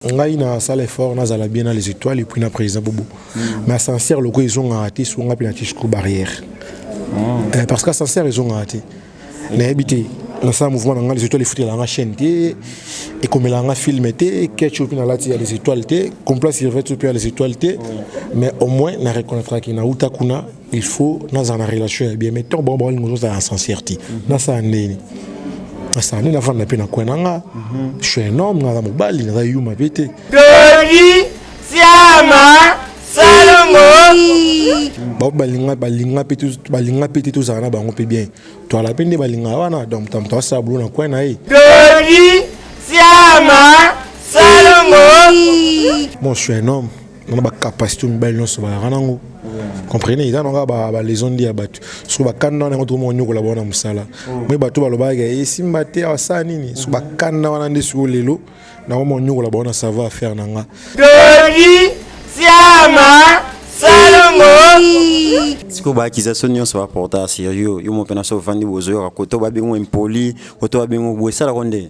ngai na sala effort na zala bien na les étoiles et puis na président bobo mm. mais ascenseur loko ezongaka te songa mpe na tisco barrière mm. eh, parce que ascenseur ezongaka te nayebi te nasala mouvement na ngai les étoiles efutela nga chaîne te ekomela nga film te ketch mpe nalati ya les étoiles te complace irvete mpe ya les étoiles te mais au moins na reconnaîtraki nauta kuna il faut nazala na relation ya bien mais ntango bango baolinga ozozala na sincèrete nasala ndeni nasala ndeni nafanda mpe na kwe na nga je suis un homme naza mobali naza yuma mpe te toli siama salongo bango balinga balinga mpe balinga mpe te tozala na bango mpe bien toala mpe nde balinga wana donc moto moto asala bulo na kwe na ye toli siama salongo moi je suis un homme na ba capacité mibali nyonso bayaka nango comprenez eza nanga baleson nde ya bato soki bakanda wana yango tokomi konyokola bango na mosala moi bato balobaka esimba te asala nini soki bakanda wana nde sikoyo lelo nakomi konyokola bango na savoir affaire na nga dodi siama sikoyo baakisation nyonso baporta sur yo yo mo mpe na so ovandi bozoyoka koto babengo impoli koto babengo boye esalako nde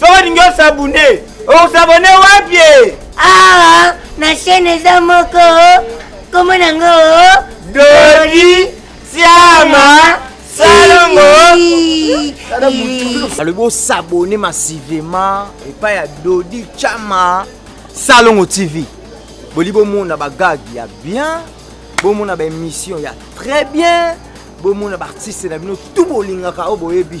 soki olingi osabune osabone wapi awa na chaine eza moko kombo nango dodi siama salongo alobi osabone masivema epai ya dodi chama salongo tv boli bomona bagage ya bien bomona baémission ya très bien bomona baartiste na bino tu bolingaka oyo boyebi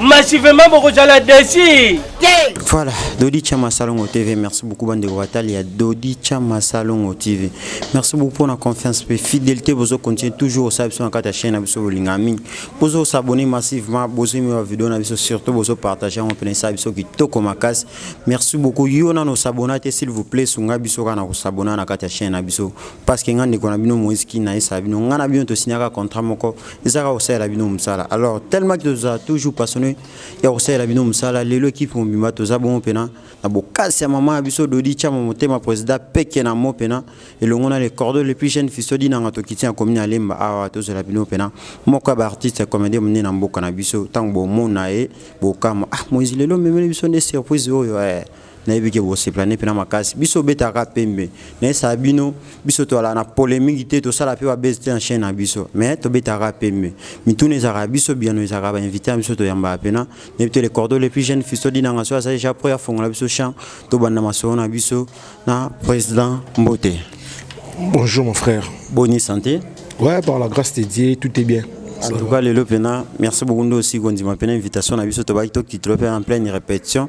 massivement bokozala desi te voilà dodi chama salongo tv merci beaucoup bandeko batali ya dodi chama salongo tv merci beaucoup mpona confiance mpe fidélité bozo continue toujours osala biso na kati ya chaîne na biso bolinga mingi bozo osabonne massivement bozwimi ba video na biso surtout bozo partage yango mpena esala biso kitoko makasi merci beaucoup yo nano osabona te s'il vous plaît sunga biso kaka na kosabona na kati ya chaîne na biso parce que ngai ndeko na bino moïse kina esala bino ngai na bino tosignaka contrat moko eza kaka kosalela bino mosala alors tellement que tozala toujours passionné ya kosalela bino mosala lelo ekipe mobimba toza bongo mpena na bokasi ya mama ya biso dodi tiama motema président peke na mo mpena elongo na le cordo le plus jeune fiso dinanga tokiti ya komini ya lemba awa tozala bino mpena moko ya baartiste ya comédie monene na mboka na biso ntango bomona ye bokama ah moizi lelo omemeli biso nde surprise oyo eh. nayebi ke bosepela ne mpena makasi biso obetaka pembe nayesa bino biso toalaka na polemiki te tosala mpe babese te na chaine na biso me tobetaka pembe mituna ezalaka biso biyano ezalaka bainvite na biso toyambaka mpena nayebi te le cordo le plus jeune fisto dinanga soki azali ja pro afongola biso champ tobanda masolo na biso na président mbote bonjour mon frère boni santé ouais par la grâce de dieu tout est bien en tout cas lelo mpena merci beaucoup nde osi kondima mpena invitation na biso tobaki tokitilo mpe en pleine répétition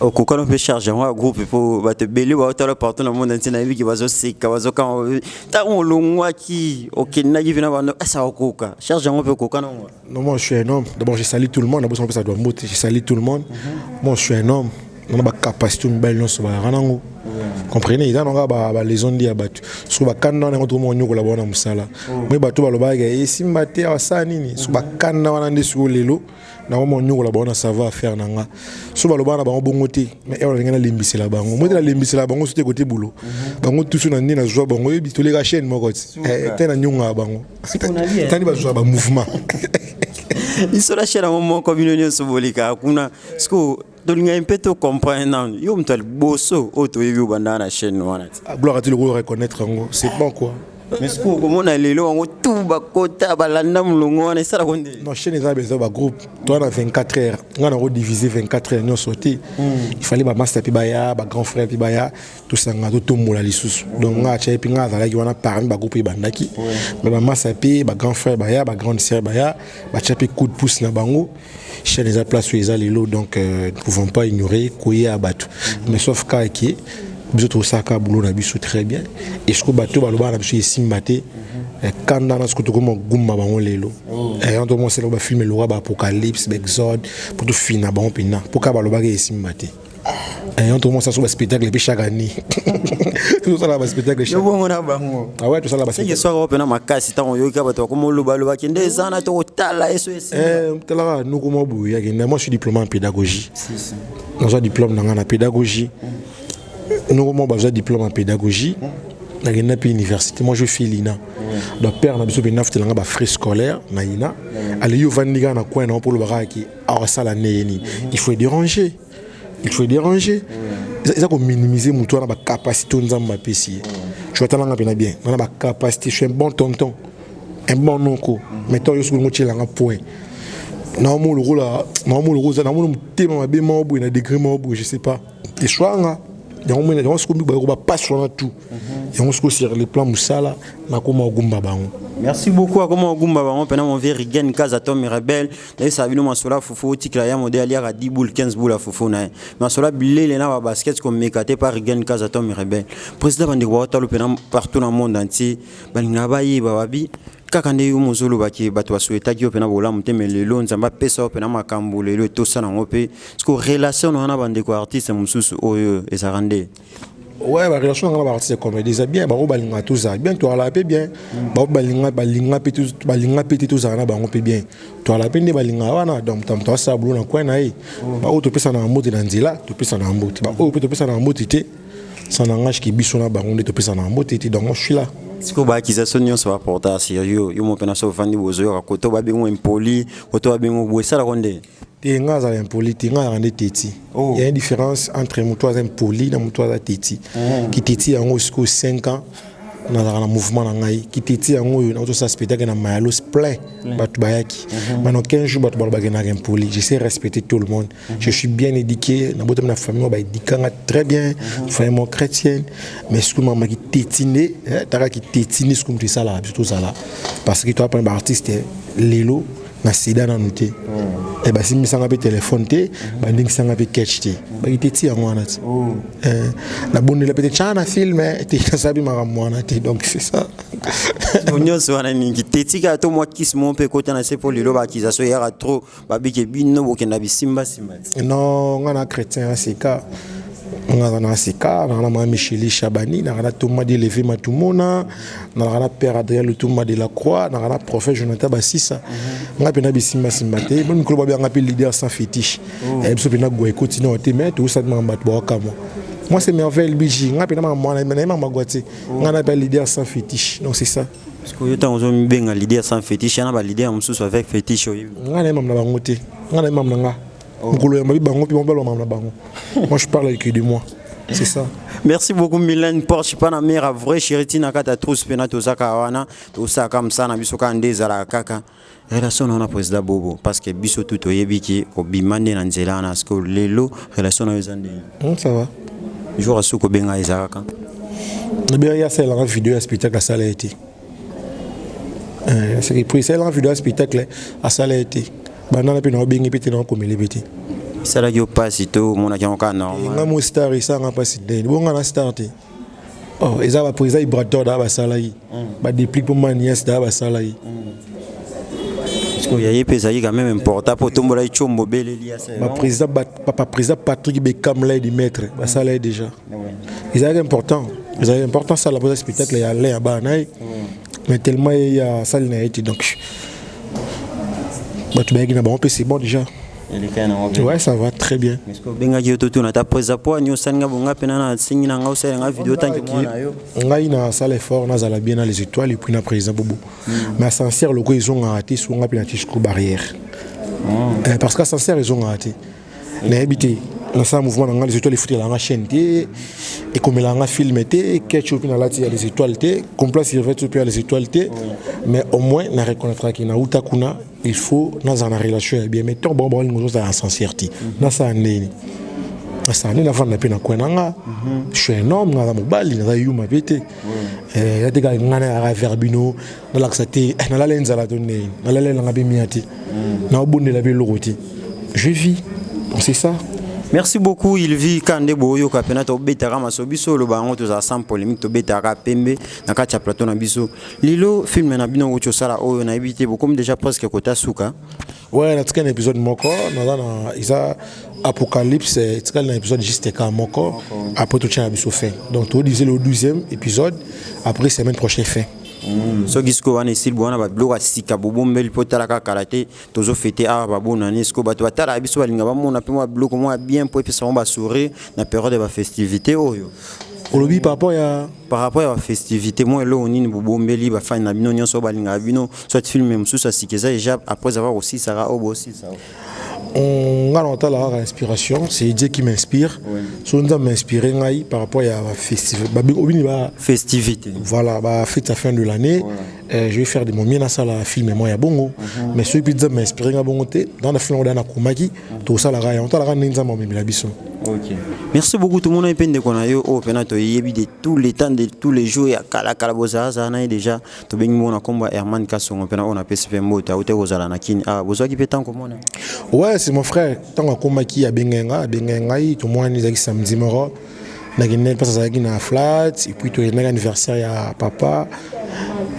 okokana mpe charge yango ya groupe mpo bato ebele baotala partout na monde ntina yebiki bazoseka bazokanga ntango olongwaki okendaki mpe na bando asa okoka charge yango mpe okoka nango non moi je suis un homme d'abord je salis tout le monde nabosana mpesa doa mbote je salis tout le monde mhm. moi je suis un homme nana bacapacité mibali nyonso bayaka nango comprenez eza nanga baleson ndi ya bato soki bakanda wana yango tokomoko nyokola bawana mosala moi oh. bato balobaka esimba eh, te asala nini so bakanda wana nde sikoyo lelo nako monyokola bango na savoir affaire na nga so balobaka na bango bongo te mais ewana ndenge nalembisela bango moi te nalembisela bango so te kote bulo mhm. bango tusu na nde nazwa bango yebi toleka chaîne moko ti eh, te nanyongaka bango tani bazwa bamouvement biso na chaîne yango moko bino nyonso bolekaka kuna sikoyo tolingaki mpe to comprendre nanu yo moto ya liboso oyo toyebi obanda na chaîne wana ti ah, gloire ati lokola reconnaître yango c'est bon quoi mais sikoyo okomona lelo yango tu bakota balanda molongo wana esalako nde non chaîne eza besoin bagroupe toa na 24 heures ngai nango divise 24 heures nyonso te hmm. ifallait bamaster mpe baya bagrand frère mpe baya tosanga totombola lisusu donc ngai atyai mpe ngai azalaki wana parmi bagroupe ebandaki mais bamaster mpe bagrand frère baya bagrande sœur baya batya mpe coup de pouce na bango mm. chaîne eza place oyo eza lelo donc euh, nous pouvons pas ignorer koya bato mais sauf kaka ke biso tosalaka boulot na biso très bien et soko bato balobaka na biso esimba te eh, kanda na soko tokoma gumba bango lelo oh. eh, yanto mosala bafilme loka baapocalypse baexode mpo tofina bango mpenza mpo kaka balobaka esimba te ayant tokomona sasa baspectacle mpe chaque année tosala baspectacle na bango awa ah tosala basoki ope na makasi ntango oyoki bato bakoma olobaloba kende eza na tokotala eso etalaka eh, noko mwa boye yake na moi suis diplôme en pédagogie nazwa diplôme na ngai na pédagogie noko mwa bazwa diplôme en pédagogie nakenda mpe université moi je fais lina donc père na biso mpe nafutela ngai bafrais scolaire na ina aleyi ovandi kaka na coin na yo mpo olobaka yake akosala ne ye nini il faut déranger il faut déranger eza kominimize motu wana bacapacité oyo nzambe apesi ye tu atalanga mpena bien wana bacapacité suis un bon tonton un bon noko mais to yo soki olingo otyelanga point naomo lokola naomo lokola oza namona motema mabe moko boye na degré moko boye je sais pas eswanga yango mona yango sikomi baye kobapasi wana tout mhm. yango sikoyo sur le plan mosala nakoma ogumba bango merci beaucoup akoma ogumba bango mpena monvie rigen kaza tom rebel nayebisaka bino masola fufu otikela ya mode aliaka 10 boule 15 boule ya fufu na ye masola bilele na babasket komeka te par rigen kaza tom rebel président bandeko baotalo mpe na partout na monde entier balingaka bayeba babi kaka nde yo mozolobaki bato basuetaki yo mpe na bolamu te me lelo nzambe apesa yo mpe na makambo lelo etosa nango mpe siko relation na wana bandeko artiste mosusu oyo ezalaka nde Ouais, ba relation na ba artiste comedy eza bien ba balinga tout ça bien toi la pe bien ba balinga balinga pe tout balinga pe tout ça na bango pe bien toi la pe ne balinga wana donc tam toi ça boulot na coin na ye ba auto pesa na mbote na nzela to pesa na mbote ba auto to pesa na mbote te ça n'engage ki biso na bango nde to pesa na mbote te donc moi je suis là sikoyo baakizatio nyonso baporta sur yo yo moko mpe na so ofandi bozoyoka koto babengo impoli koto babengo boye esalako nde te nga azala impoli te nga azalaka nde teti oh. ya différence entre moto aza impoli na moto aza teti mm. kiteti yango sikoyo 5 ans nazalaka na mouvement na ngai kiteti yango oyo nazosa spectacle na mayalos plein mm. bato bayaki mm-hmm. bana 15 jours bato balobaki naka impoli je sais respecter tout le monde mm-hmm. je suis bien édiqué nabotami na famille oyo baedika nga très bien mm-hmm. famille mo chrétienne mais sikoyo mama kiteti nde eh, taka kiteti nde sikoyo moto esalaka biso tozala parce que toapana baartiste lelo na sida nanu te eh, basimbisanga mpe telefone te bandingisanga mpe catch te bakite ti yango wana ti oh. eh, nabondela mpe te tya na filme eh, te nasabi makambo wana te donc c'est ça nyonso wana mingi te tika to mwa kisi moko mpe ekota na se mpo lelo baakizasio eyaka trop babike bino bokenda bisimbasimba non ngai na chrétien ya sika nga na sika na na mwa micheli shabani na na toma deleve matumona nalaka na père adrien lutumba de la croix nalaka na prophète jonathan basisa mhm. ngai mpena bisimbasimba te mpe mikolo babianga ngai mpe leader sans fétiche oh. eh, biso mpena gwa ekoti nao te mai toyosaki makambo bato bawakamwa moi c'est merveille bg ngai mpena makambo wana naye makambo agwa te oh. ngai nape leader sans fétiche donc c'est ça sikoyo ntango ozomibenga leader sans fétiche yana baleader mosusu avec fétiche oyebi ngai naye mamu na bango te ngai naye mamu na ngai mokolo ya mabi bango mpe babalwa makambo na bango moi je parle que de moi c'est ça merci beaucoup milene porsche pana mera vrai chériti na kati ya trousse mpe na tozaka wana tosalaka mosala na biso kaka nde ezalaka kaka relation na yo na président bobo parce que biso tu toyebi ki obima nde na nzela wana parce que lelo relation na yo eza ndenge hmm, ça va jour asuki obenga ezalaka nabengaki asalelanga video ya spectacle asala ye te Eh, soki po esalelaka video ya spectacle asala ye te bandana mpe na obengi mpe te na okomeli mpe te esalaki yo mpasi to omonaki yango kaka normal nga mo star esanga mpasi ndeni bonga na star te oh, eza bapo eza ibrator daa basala ye mm. badeplique mpo manias daa basala ye mm. oyo yaye mpe ezalaki quand même important mpo otombolaki combo beleli ya papa président patrick bekamla ye dimetre basala ye déjà ezalaki important ezalaki important asala mpoza spectacle ya alain ya bana na ye mais tellement ye ya asali na ye te donc bato bayaki na bango mpe c'est bon déjà Ouais, ça va très bien. obengaki yo totuna ata poza po ani osali nga bonga mpe nana asengi na nga osali nga video otangi mwana yo ngai nasala effort nazala bien na les étoiles epuis na président bobo hmm. mais ascenseur loko ezongaka te songa mpe na tisco barrière hmm. eh, parce que ascenseur ezongaka te nayebi te nasala mouvement na ngai les étoiles efutela nga chaîne te ekomela nga film te ketch oyo mpe nalati ya les étoiles te complace irvete oyo mpe ya les étoiles te mais au moins na reconnaîtraki nauta kuna il faut nazala na relation ya bien mais ntango bango bakolinga ozozala na sincère te nasala ndeni nasala ndeni nafanda mpe na kwe na nga je suis un homme naza mobali naza yuma mpe te ya te kaka ngai nayaka verbino nalakisa te eh, nalala enzala to ndeni nalala elanga mpe mia te mm. naobondela mpe eloko te je vis c'est ça merci beaucoup il vit ka nde boyoka mpena tobetaka maso biso oloba yango tozala sans polémique tobetaka pembe na kati ya plateau na biso lilo filme na bino okuti osala oyo nayebi te bokomi déjà presque kota suka ouais natika na épisode moko naza na eza apocalypse etikali na épisode juste ka moko après totyana biso fin donc todivise le 12e épisode après semaine prochaine fin Mm, soki sikoyo wana esili bowana babiloko ya sika bobombeli mpo tala kaka kala te tozo fete awa babonani sikoyo bato batalaka biso balinga bamona mpe mwa biloko mwa bien mpo epesa bango basourire na periode ya bafestivité oyo olobi par rapport ya par rapport ya bafestivité mwa eloko nini bobombeli bafani na bino nyonso oyo balingaka bino soit filme mosusu ya sika eza ejab après avoir kosilisaka oyo bosilisaka Hum, nga na otala kaka inspiration c'est Dieu qui m'inspire so nzambe m'inspire ngai par rapport ya bafestive obini ba festivité voilà bafete ya fin de l'année euh, je vais faire de mon mieux nasala film mwa ya bongo mhm. mais soki mpe nzambe m'inspire ngai bongo te dans na film yango da nakomaki mhm. tosalaka yango otalaka ndenge nzambe amemela biso Okay. Merci beaucoup tout le monde mpe ndeko na yo oyo mpena toyebi de tous les temps de tous les jours ya kalakala bozalazala na ye déjà tobengi moko na kombo ya Herman Kasongo mpe na oyo napesi mpe mbote awute kozala na Kin awa ah, bozwaki mpe ntango komona ouais c'est mon frère ntango akomaki abengaki ngai abengaki ngai tomonani ezalaki samedi moko nakendaki mpasi azalaki na flat epuis toyendaki anniversaire ya papa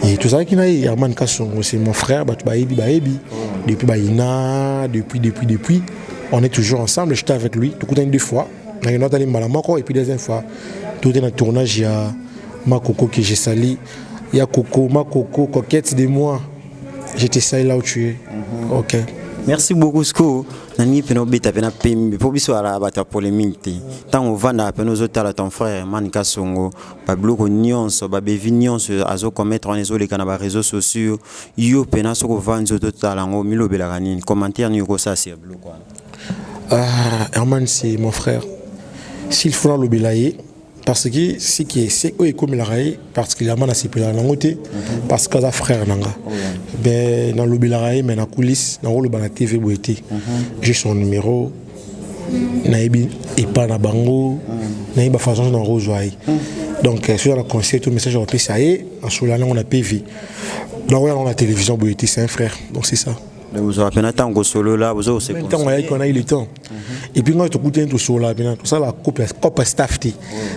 et tozalaki na ye Herman Kasongo c'est mon frère bato bayebi bayebi depuis bayina depuis depuis depuis on est toujours ensemble j'étais avec lui tokutani deux fois nakendaki atali mbala moko epuis deuxième fois tote na tournage ya makoko que je sali ya koko ma koko coquette de moi je te sais là où tu es mm -hmm. ok merci beaucoup sikoyo nalingi mpena obeta mpena pembe mpo biso ala bato ya polémique te ntango ovandaka mpena ozotala ton frère mani kasongo babiloko nyonso babevi nyonso azokometre wana ezoleka na bareseau sociaux yo mpena soki ovandi ozotala yango milobelaka nini commentaire nini okosasi ya biloko wana ah, herman c'est mon frère s'il faut nalobela ye parce que ce qui est c'est oyo ekomelaka ye particulièrement nasepelaka nango te mhm. parce que aza frère na nga oh, ben nalobelaka ye mais na coulisse nakoloba na tv boye te mhm. j'ai son numéro nayebi epa na bango mhm. nayebi bafaçon na kozwa ye donc soki aza na conseil to message akopesa ye asola nango na pv nakoya nango na télévision boye te c'est un frère donc c'est ça vous avez un temps que solo là, vous avez un temps. et puis ngai tokutani tosolola mpena tosala cope staff te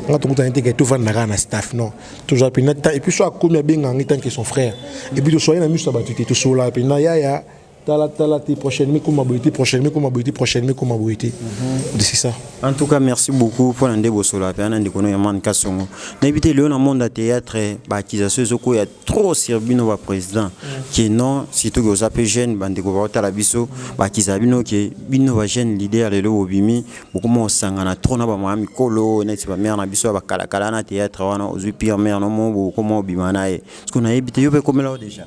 ngai tokutani te ke tovanda kaka na staff non tozala mpena temps et puis so akomi abenga ngai tant ke son frère et puis tosolani na miso ya bato te tosololaka mpena yaya tala tala te prochainement ekoma boye te prochainement ekoma boye te prochainement ekoma boye te mhm. c'est ça en tout cas merci beaucoup mpo na nde bosolola mpena na ndeko no ya mane kasongo nayebi te lelo na monde ya théâtre baakisation ezokoya trop sur bino ba président que non surtout que oza pe jeune bandeko baotala biso bakizala bino ke bino ba jeune leader lelo bobimi bokoma osangana trop na bamama mikolo neti bamare na biso ya bakalakala na théâtre wana ozwi pire mare nomo bokoma obima na ye siko nayebi te yo pe ekomela yo déjà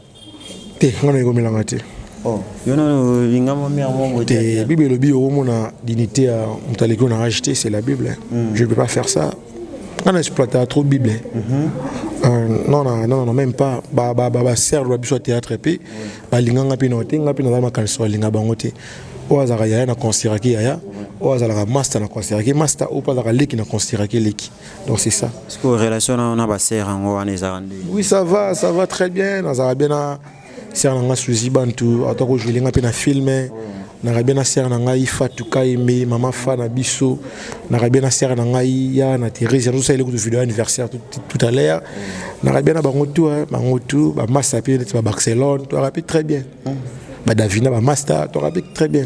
te nga naekomelanga te oh, yo nano linga mwa mare moko te bible elobi okomona dignité ya moto aleki yo na age te c'est la bible mm. je ne peux pas faire ça nga na exploitaka trop bible mm -hmm. euh, non, non, non, non, même pas ba, ba, ba, ba serre ba biso théâtre mpe balinga nga mpe no te nga mpe naza makanisi balinga bango te oyo azalaka yaya na consideraki yaya oyo azalaka master na consideraki master oyo mpe azalaka leki na consideraki leki donc c'est ça relation na baser yango wana ezalaka nde oui ça va ça va très bien nazalaka bien na sœur na nga Suzy Bantu ata ko jouer nga pe na film na rabia na sœur na ngai Fatou Kaembe mama fa na biso na rabia na sœur na ngai ya na Thérèse ya sala kutu vidéo anniversaire tout, tout à l'heure na rabia na bango tout hein, bango tout ba massa pe ba Barcelone to rapi très bien ba Davina ba Masta to rapi très bien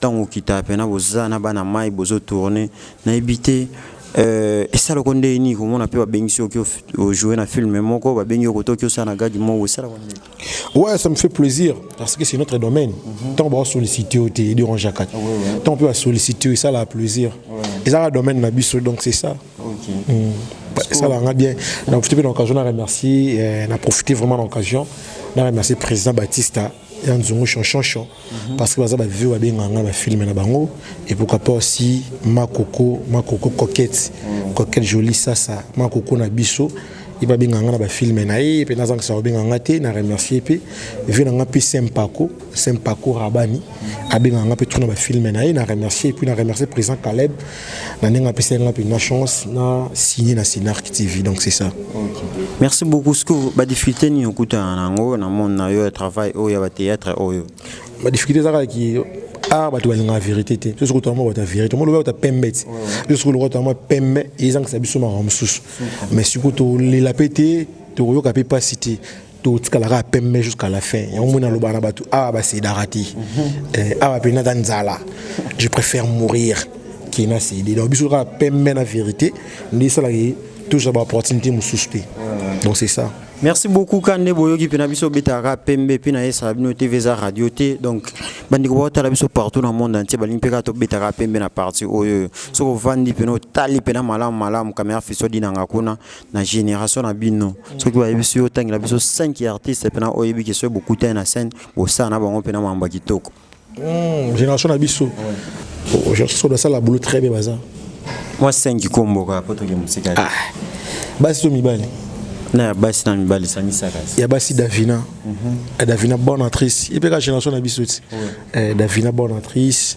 Tango okita pena boza na bana mayi bozo tourne nayebi te euh esalako ndenge nini komona pe babengisi yo oki o jouer na film moko babengi yo koto oki osala na gag moko esalako ndenge Ouais, ça me fait plaisir parce que c'est notre domaine. Tant qu'on va solliciter au thé, du range à quatre. Tant qu'on va solliciter, ça la plaisir. Et ça, le domaine n'a biso, donc c'est ça. Ça là, on a bien. Donc, je te fais l'occasion de remercier, euh, on a profité vraiment de l'occasion. On a remercié le président Baptista. ya nzungu shonshonshon parce que baza bavio babengaka ngai bafilme na bango et pourquoi pas aussi makoko makoko coquette coquette jolie sasa makoko na biso ye babengaka ngai na bafilme na ye mpe nazangisa kobengaka ngai te na remercie mpe vie na ngai mpe sempako sempako rabani abengaka ngai mpe tuna bafilme na ye na remercie epuis na remercie président caleb na ndenge apesaki nga mpenza chance na signe na Cinarc TV donc c'est ça. Okay. Merci beaucoup sikoyo badifficulté nini okutana na yango na monde na yo ya travail oyo ya bathéâtre oyo badifficulté ezalaka ki art bato balingaka vérité te biso soki tolama bato ya vérité mo lobi bato ya pembe te biso soki lokola tolama pembe ezangisa biso makambo mosusu mais sikoyo tolela mpe te tokoyoka mpe mpasi te totikala kaka pembe jusqu'à la fin yango mona aloba na bato awa basidaka te eh, awa mpe naza nzala je préfère mourir ke na sidi donc biso kaka pembe na vérité nde esalaki tozwa baopportunité mosusu te donc c'est ça merci beaucoup ka nde boyoki mpe na biso obetaka pembe mpe na esala bino tv eza radio te donc bandeko baotala biso partout na monde entier balingi mpe kaka tobetaka pembe na parti oyo soki ovandi mpe na otali mpe na malamu malamu kamera fiso dinanga kuna na génération na bino soki bayebisi yo otangela biso 5 artistes mpena oyebi ke soki bokutani na scène bosala na bango mpena mambo ya kitoko hmm, génération na biso soki basala boulot très bien baza mwa 5 kombo kaka mpo toke mosika ah, basi to mibali na ya basi na mibali sangisaka ya basi davina mhm. eh, davina bonne actrice ye mpe ka génération na biso ti eh, davina bonne actrice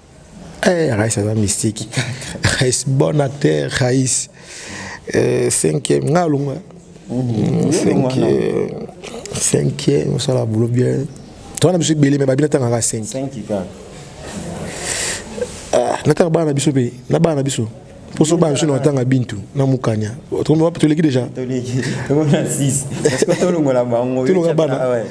Eh, Rais aza mystique. Rais bon acteur, Rais. Euh, cinquième, nga longa. Mm-hmm. Cinquième, cinquième, ça la boulot bien. Toi, on a besoin de belé, mais babina tanga ka cinq. Cinq, kaka. Ah, nataka bana na biso pe, na bana na biso. Poso bana biso na tanga bintu, na mukanya. Otombe wapi toleki déjà? Toleki. Toleki 6. Parce que tolongola bango. Tolongola bana. Ah ouais.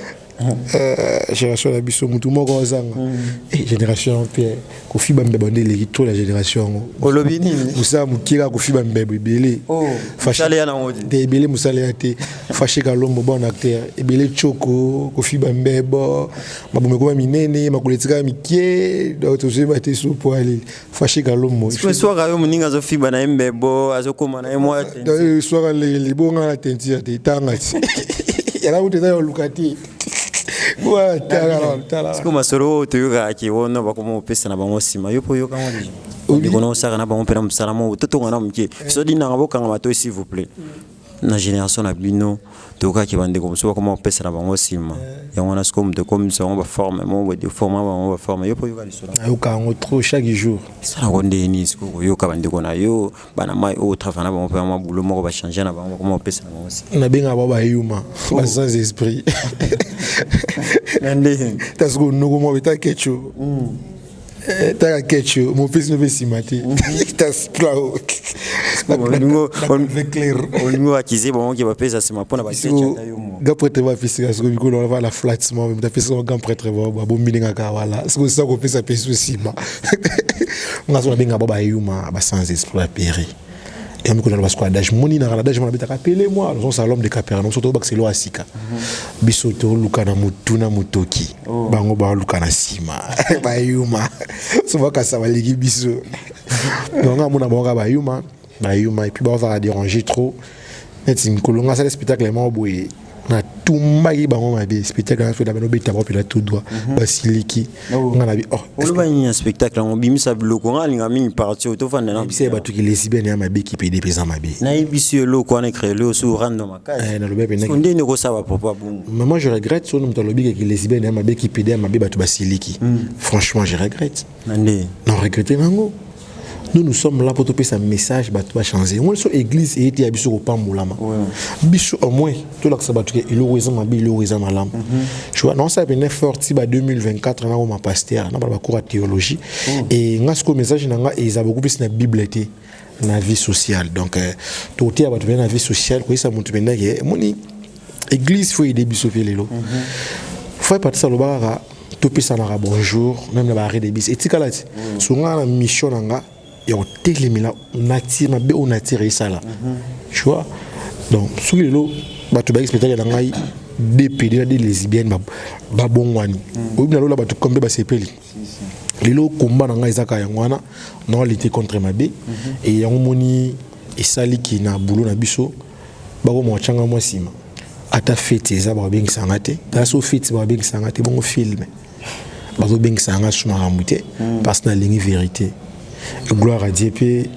Eh, génération na biso mutu moko azanga mm. eh, génération yango mpe kofiba mbeba nde eleki to na génération yango olobi nini mosala moke kaka kofiba mbeba ebele oh, te ebele mosala ya te fashe kalombo bon acteur ebele coko kofiba mbebo mabomo ekoma minene makolo etikaka mike donc tozoyeba te sopo aleli Fashi Galombo. Sikoyo swaka yo moninga azofiba na ye mbebo azokoma na ye mwa tenti. Swaka leke libonga na tenti ya te tanga ti. Yala kutu eza ya oluka te. Sikoyo masolo oyo toyokaka ke wana bakoma kopesa na bango nsima yo mpo oyoka yango nini? Ndeko na osaka na bango mpe na mosala moko totonga na moke. Soki nanga bokanga matoi s'il vous plaît. na generation na bino tokaki bandeko mosusu bakoma kopesa na bango nsima yango wana sikoyo moto ekomisa bango baforme moko deforma bango baforme yo mpo oyoka lisolo nayoka yango trop chaque jour esala yango ndenge nini sikoyo koyoka bandeko na yo bana mai oyo travail na bango mpe yango mabulo moko bachange na bango bakoma kopesa na bango nsima nabengaka bango bayuma oh. ba sans esprit na ndenge tasikoyo noko moko beta kecho hmm. Eh, taka kecho mopesi no mpe nsima te olingi oakize bango ke bapesa nsima mpona baga pretre bapesaka soko mikolo wana bala flats mwa mpe apesaka bagan pretre babombi ndenge kaka wala soko sisa kopesa pesi nsima nga so nabenga ba bayuma basanza esprit ya peri ya miko na basiko adage moni na adage mona betaka pele moi nous sommes à l'homme de Capernaum surtout bakiselo asika biso to luka na mutu na mutoki oh. bango ba luka na sima ba yuma so baka sa baliki biso donc amona bango ba yuma ba yuma et puis ba va déranger trop neti mikolo nga sala spectacle moko boye na tumbaki bango mabe spectacle na feda bano betama mpela tout droit mhm. basiliki oh. nga na bi oh, oloba nini ya spectacle yango bimisa biloko nga alinga mingi parti oyo tofanda na bisa ya bato ki lesbienne ya mabe kipede mpenza mabe nayebisi yo eloko wana ekrele yo su rando makasi eh, nalobi mpenza nde nde okosala papa bongo mais moi je regrette sono moto alobi ke ki lesbienne ya mabe kipede ya mabe bato basiliki hmm. franchement je regrette na regrete nango nous nous sommes là mpo topesa message bato bachange yango liso église eyete ya biso kopambolama biso au moins tolakisa bato ke eloko eza mabe eloko eza malamu mhm. naosala pene fort ti ba 2024 nakoma paster na bana bakour ya théologie e nga sikoyo message na nga eza bokopesi na bible te na vie sociale donc euh, tokoteya bato mpenza na vie sociale koyesa moto mpenza ke emoni église faut aide biso mpe lelo mhm. fo epatisa aloba kaka topesanaka bonjour meme na baarret de bis etikala ti mhm. songaa na mission na nga ya kotelemela nature mabe oyo nature esala mhm. tu vois donc soki lelo bato bayaki spectacle na ngai dpd na de lesbienne babongwani oyebi nalola bato kombe basepeli lelo combat na ngai eza kaka yango wana na lutte contre mabe e yango moni esali ki na bulo na biso bakoma bacanga mwa nsima ata feti eza bakobengisa nga te ata so feti bakobengisa nga te bongo filme bazobengisa yanga su makambo te mm. parce que nalingi vérité gloire à dieu mpe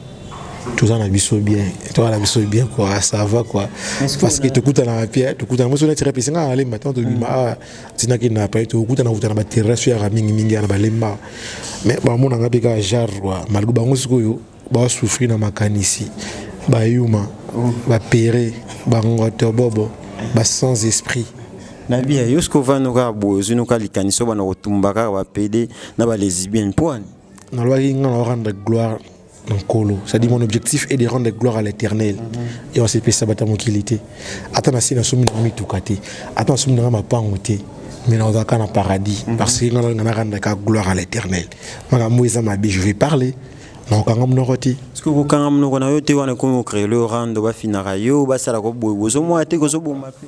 toza na biso bien toza na biso bien kua ça va kua parce que tokutanaka pia tokutana moso neti repe esenga alemba ntango tobima mm. awa ah, tina kenda pa ete okutana kutana baterrasi yaka mingimingi ya na balemba me bamona nga mpe kaka genre wa malgre bango sikoyo basufri na makanisi bayuma bapere bangoto bobo ba sans esprit na bia yo sikoyo vano kaka boye ozwi noka likanisi oyo bana kotumba kaka bapede na balesibienne mpo wani nalobaki nga na orendre gloire nkolo c'est-à-dire mon objectif est de rendre gloire à l'éternel mm-hmm. et osepesa bato ya mokili te ata na se na somi nanga mituka te ata na somi nanga mapango te mais naozalaka na paradis mm-hmm. parce que ngai na rendaka gloire à l'éternel makambo eza mabe je vais parler nakokanga monoko te soki okokanga monoko na yo te wana ekomi okreole orando bafinaka yo basalaka boye bozomona te kozoboma mpe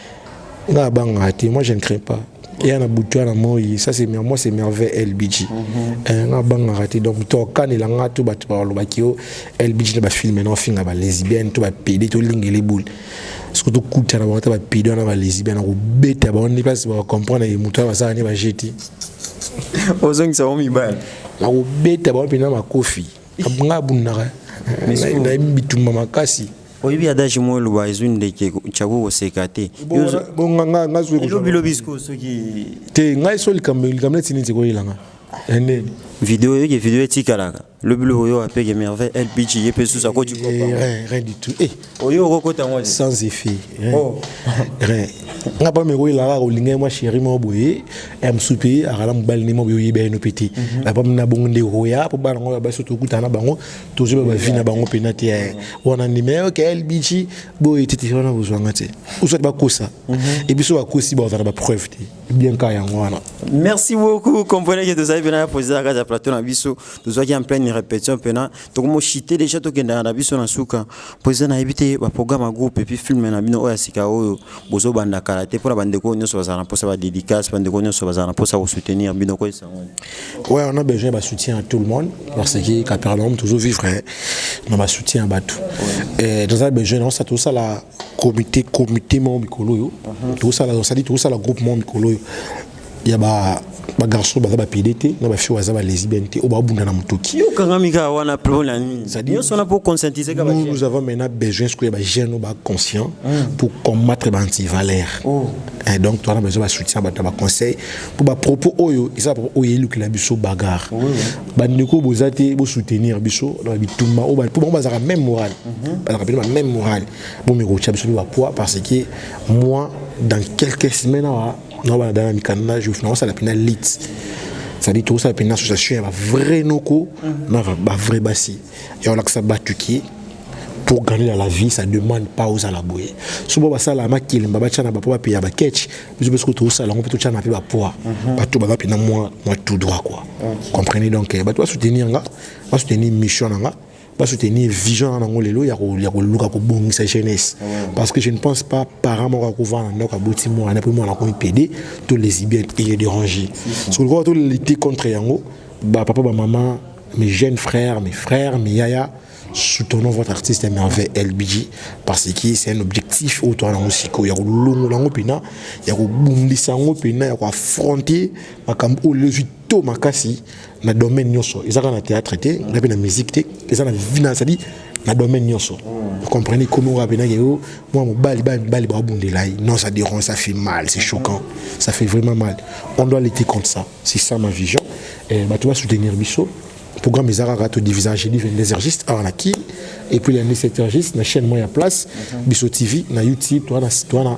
nga abanga te moi je ne crains pas eya na butu ya na moi ça c'est moi c'est merveille lbg mhm. eh, nga abangaka te donc tokanela nga to bato balobaki yo lbg na bafilme na ofinga balesbienne to bapede tolingele boule soki tokutana bango ata bapede wana balesbienne akobeta bango nde place bacomprendre ye moto ya basala nde bajeti ozongisa bango mibale nakobeta bango mpenza makofi nga abundaka nayebi bitumba makasi oyebi adage moko eloba ezwi ndeke chako koseka te lobilobi sikoyo soki te ngai so likambo likambo neti nini sekoyelanga ende video oyoki video etikalaka lobi loko yo apeke merveille lpg ye mpe susu akoti eh, eh, rien du tout eh. oyo okokota yango sans effet oh. rien nga pa meko elaka kolinga mwa chéri moko boye ya mosusu mpe akala mobali nde moko boye oyebi ayino mpe te apa mna bongo nde okoya mpo bana ngo ya basi tokutana na bango tozoba ba vie na bango pena te eh. wana ndima ya ok lbg boye tete wana bozwanga te oswati bakosa mhm. ebiso bakosi bazala bapreuve te bien ka yango wana merci beaucoup comprenez que tozali pena ya posera kati ya plateau na biso tozwaki en pleine répétition pena tokomoshite déjà tokendaka na biso na suka mpo eza nayebi te baprogramme ya groupe epuis filme na bino oyo ya sika oyo Bozo banda kala te pona ba ndeko oyo nionso bazala na posa ba dedicace ba ndeko nionso bazala na posa ko soutenir bino ko esango. Ouais on a besoin ba soutien à tout le monde parce que Capernaum toujours vivre na ba soutien ya batu. Et dans un besoin on sa tout ça la comité comité mon mikolo yo. Tout ça la on sa dit tout ça la groupe mon mikolo yo. ya ba ba garçon baza ba pede te na ba fille baza ba lesbienne te oyo babunda na motoki yo kangami kaka wana po na nini nyonso wana po conscientiser kaka nous, nous avons maintenant besoin sikoyo ba jeune oyo ba conscient mm. pour combattre ba antivaleur oh. Eh, donc towana besoin ba soutien bato na ba conseil po ba propos oyo eza propos oyo elukela biso bagarre oui, oui. bandeko boza te bosoutenir biso na bitumba oyo po bango bazalaka même morale mhm. bazalaka pene ba même morale bomekotya biso mpe bapoids parce que moi dans quelques semaines awa na bana dana mikanda na jof na osala pina lit c'est-à-dire tokosala pina association ya bavrai noko mhm. na bavrai basi ya olakisa batu ki pour gagner dans la vie ça demande pas aux ala boye so bo basala makelemba batya na bapo bapeya baketch biso biso tokosala yango mpe totya na mpe bapoa mhm. bato baza mpena mwa tout droit quoi comprenez donc eh, bato basoutenir nga basoutenir mission na nga ba soutenir vision na nango lelo ya ko ya ko luka ko bongisa jeunesse parce que je ne pense pas parent moko ko vana na ka boti mo na primo na ko pede to les bien et les déranger ce que ko to lutter contre yango ba papa ba maman mes jeunes frères mes frères mes yaya soutenons votre artiste merveille LBG parce que c'est un objectif au toi na musiko ya ko longo lango pina ya ko bundisa ngo pina ya ko affronter makambo o lezu to makasi na domaine nyoso eza kaka na théâtre te nga mpe na musique te eza na vina cest na domaine nyoso vous comprenez ekomi oyo abenaki yo mwa mobali bana mibali baobundela ye non ça dérange ça fait mal c'est choquant ça fait vraiment mal on doit lutter contre ça c'est ça ma vision eh, bato basoutenir biso programme eza kaka todivisa jeudi 22 heurgiste awa na kin epuis ya 17 heurgiste na chaîne moko ya place biso tv na youtube toana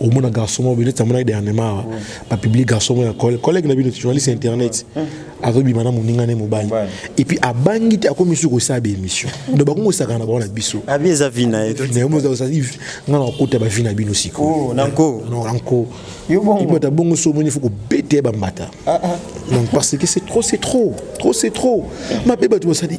omona garçon moko neti amonaki dernièrement awa bapublie garçon moko ya collègue na bino journaliste ya internet azobima na moninga ne mobali epuis abangi te akomi su kosala baémission donc bakongo osakana na bango na biso abi eza vi na ye nga na kokota bavi na bino sikoyo nanko ata bongo so omoni fo kobeta ye bambata donc parce que c'est trop c'est trop trop c'est trop mabe bato basali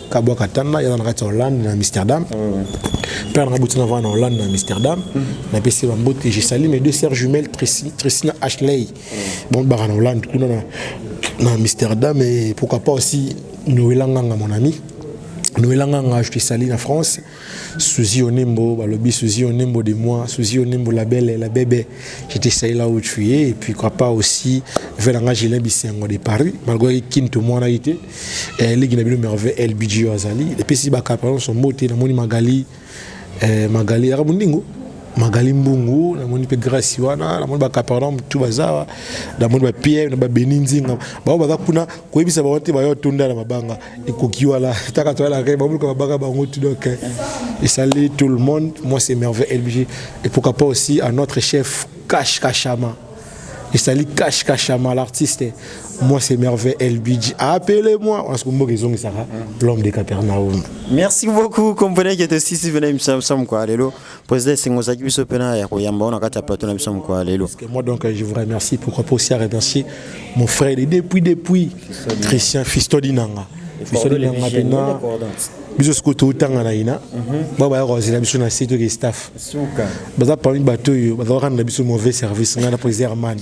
Kabwa Katana yaza na kati ya Hollande na Amsterdam. Père na butina va na Hollande na Amsterdam. Na pesi ba mbote je salue mes deux sœurs jumelles Tracy, Tracy na Ashley. Bon ba na Hollande kuna na na Amsterdam et pourquoi pas aussi Noël Nganga mon ami. Noël Nganga je te salue na France. Suzy Onembo, balobi Suzy Onembo de moi, Suzy Onembo la belle, la bébé. J'étais saï là où tu es, et puis papa aussi, vers l'anga Gilin Bissengo de Paris, malgré qu'il te moine été, et les Guinabino merveilleux, El Bidjo Azali, et puis si Baka, pardon, son mot, et la moni Magali, eh, Magali, Arabundingo, magali mbungu namoni mpe grâce wana namoni bacapernaum tu baza awa namoni bapierre na babeni nzinga bango baza kuna koyebisa bango te bayo tonda na mabanga ekoki wana taka toyala kaka babuluka babaka bango tout donc eh, esali tout le monde moi c'est merveille elbj et pourquoi pas aussi à notre chef cash kashama esali cash kashama l'artiste moi c'est merveille elbj appelez moi parce que mboka ezongisaka l'homme de capernaum merci beaucoup comprenez que te sisi vena imsam sam quoi lelo Président Sengo Zaki biso pena ya koyamba on akata plateau na biso mukwa lelo. Parce que moi donc je vous remercie pourquoi pas aussi à remercier mon frère et depuis depuis Christian Fistodi Nanga. Fistodi Nanga pena biso sikoyo toutanga na ina ba baya kozela biso na se toke staff baza parmi bato oyo bazalaka na biso mauvais service ngai na président hermane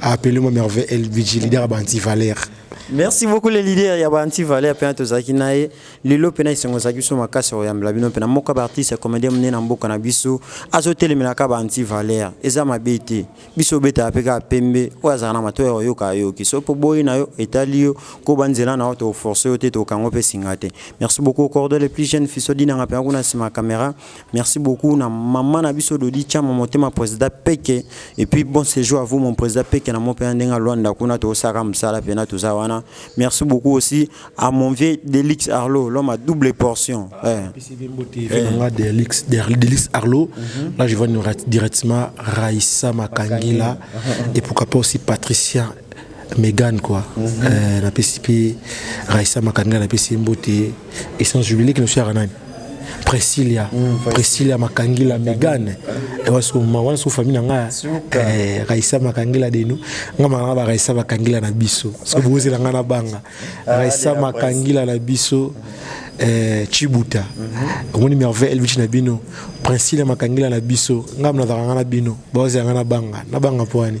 Appelez-moi Merveille LBG, leader à Banti Valère. merci beaucoup le leader ya baanti valeur mpena tozalaki na ye lelo mpena esengo ezalaki biso makasi ya koyambela bino mpena moko ya baartiste ya comédien monene na mboka na biso azotelemela baanti valeur eza mabe te biso obetaka mpe kaka pembe oyo azalaka na matoi ya koyoka ayoki so mpo boyi na yo etali yo koba nzela na yo tokoforce yo te tokokango mpe singa te merci beaucoup okordole plus jeune fiso dinanga mpena kuna nsima ya camera Merci beaucoup na maman na biso Dodi Chama motema président Peke et puis bon séjour à vous mon président Peke na mope ndenga Luanda kuna to saka msala pena toza wana. Merci beaucoup aussi à mon vieux Delix Arlo l'homme à double portion. Ah, eh. PCB Mbote eh. nga Delix Delix Arlo. Mm -hmm. Là je vois directement Raissa Makangila et pourquoi pas aussi Patricia Megan quoi mm -hmm. euh, na pesi pe Raissa Makanga na pesi mbote et sans oublier leki na biso yaka nani Priscilla mm, Priscilla Makangila Megan et wa so ma wana so famille na nga eh, Raissa Makangila de nous nga ma nga ba Raissa Makangila na biso so boze na nga na banga ah, Raissa Makangila na biso mm -hmm. eh, chibuta mhm. omoni merveille elvici na bino princile makangila na biso ngai nazalaka ngai na bino baozela ngai na banga na banga mpo wani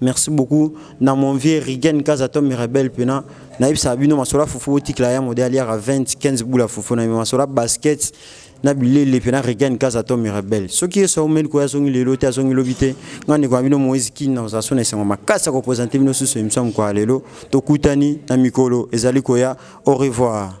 Merci beaucoup na mon vieux Rigen Kaza Tom Rebel pena na yebisa bino masola fufu otikla ya modèle ya 20 15 boula fufu na masola basket na bilele pena Rigen Kaza Tom Rebel soki yeso omeli ko azongi lelo te azongi lobi te ngani kwa bino Moïse Kin na ozaso na esengo makasa ko présenter bino susu emission kwa lelo tokutani na mikolo ezali koya au revoir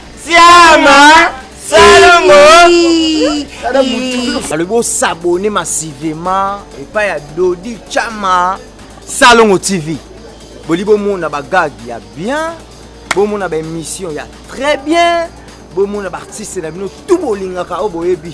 Siama Salongo alobi osabone masivema epai ya Dodi Chama Salongo TV boli bomona bagage ya bien bomona baémission ya très bien bomona baartiste na bino tu bolingaka oyo boyebi